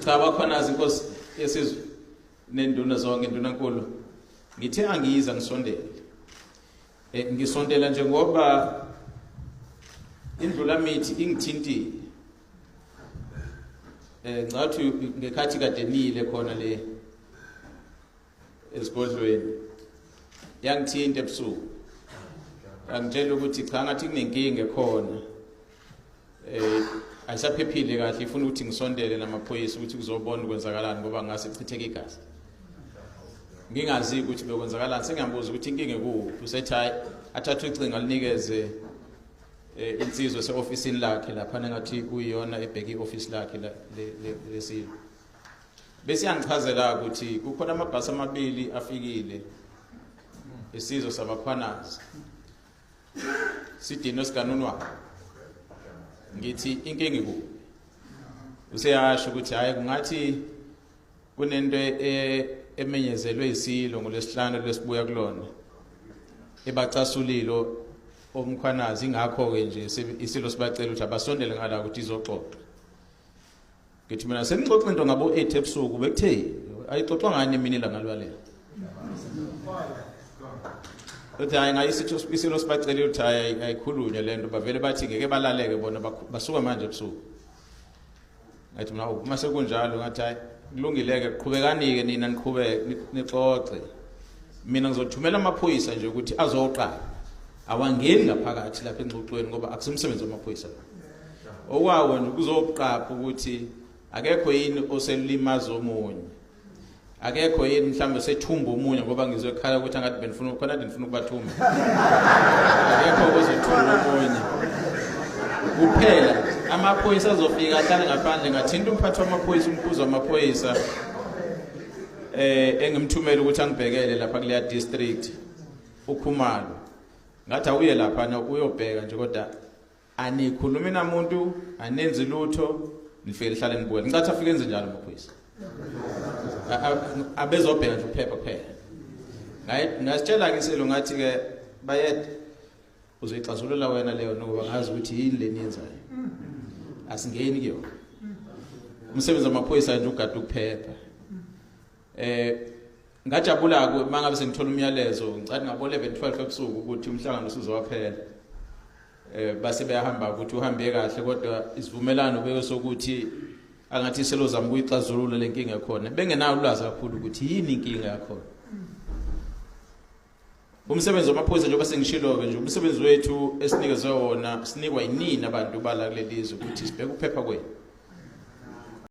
cha bakhona inkosi yesizwe nenduna zonke induna nkulu ngithe angiyiza ngisondele eh, ngisondela nje ngoba indlula mithi ingithintile eh ngathi ngekhathi kade nile khona le esigodlweni yangithinta ebusuku angitshela ukuthi cha ngathi kunenkinga ekhona eh ayisaphephile kahle ifuna ukuthi ngisondele namaphoyisa ukuthi kuzobona ukwenzakalani ngoba ngase chitheke igazi ngingazi ukuthi bekwenzakalani sengiyabuza ukuthi inkinga ekuphi usethi hayi athathe ucingo alinikeze eh, insizwe se-ofisini lakhe laphana ngathi kuyiyona ebheke i-ofisi lakhe lesilo besiyangichazela ukuthi kukhona amabhasi amabili afikile isizwe sabakhwanazi sidino sikanunwa ngithi inkingi ku useyasho ukuthi hayi kungathi kunento e- emenyezelwe isilo ngolesihlanu lesibuya kulona ebacasulilo omkhwanazi ingakho ke nje isilo sibacela ukuthi abasondele ngala ukuthi izoxoxa ngithi mina senixoxa into ngabo 8 ebusuku bekuthe ayixoxwa ngani mina ilanga lwalela uthi hayi ngayisilo sibacelile ukuthi hayi ayikhulunywe le nto bavele bathi ngeke balaleke bona basuke manje ebusuku ngathi mina uma sekunjalo ngathi hayi kulungile-ke qhubekani-ke nina niqhubeke nixoxe mina ngizothumela amaphoyisa nje ukuthi azoqala awangeni ngaphakathi lapha engxoxweni ngoba akusimsebenzi wamaphoyisa la okwawo nje kuzoqapha ukuthi akekho yini oselulimaza omunye akekho yini mhlawumbe sethumba omunye ngoba ngizwe ekhala ukuthi angathi benifuna khona kade nifuna ukubathumba akekho ozothumba omunye kuphela amaphoyisa azofika ahlale ngaphandle ngathinta umphathi wamaphoyisa umkhuzi wamaphoyisa eh engimthumela ukuthi angibhekele lapha kuleya district ukhumalo ngathi awuye lapha uyobheka nje kodwa anikhulumi namuntu anenzi lutho nifike lihlale nibuke ngicathi afike enze njalo amaphoyisa abezobheka nje ukuphepha kuphela ngasitshela ke isilo ngathi ke bayed uzoyixazulula wena leyo nokuba ngazi ukuthi yini leni yenzayo asingeni kuyona umsebenzi wamaphoyisa nje ugada ukuphepha eh ngajabula ku mangabe sengithola umyalezo ngicathi ngabo 11 12 ebusuku ukuthi umhlangano usuzowaphela eh base beyahamba ukuthi uhambe kahle kodwa isivumelano beyosokuthi angathi selozama ukuyixazulula lenkinga khona bengenayo ulwazi kakhulu ukuthi yini inkinga yakho umsebenzi wamaphoyisa njengoba sengishilo-ke nje umsebenzi wethu esinikezwe wona sinikwa yinini abantu bala kuleli zwe ukuthi sibheke ukuphepha kwenu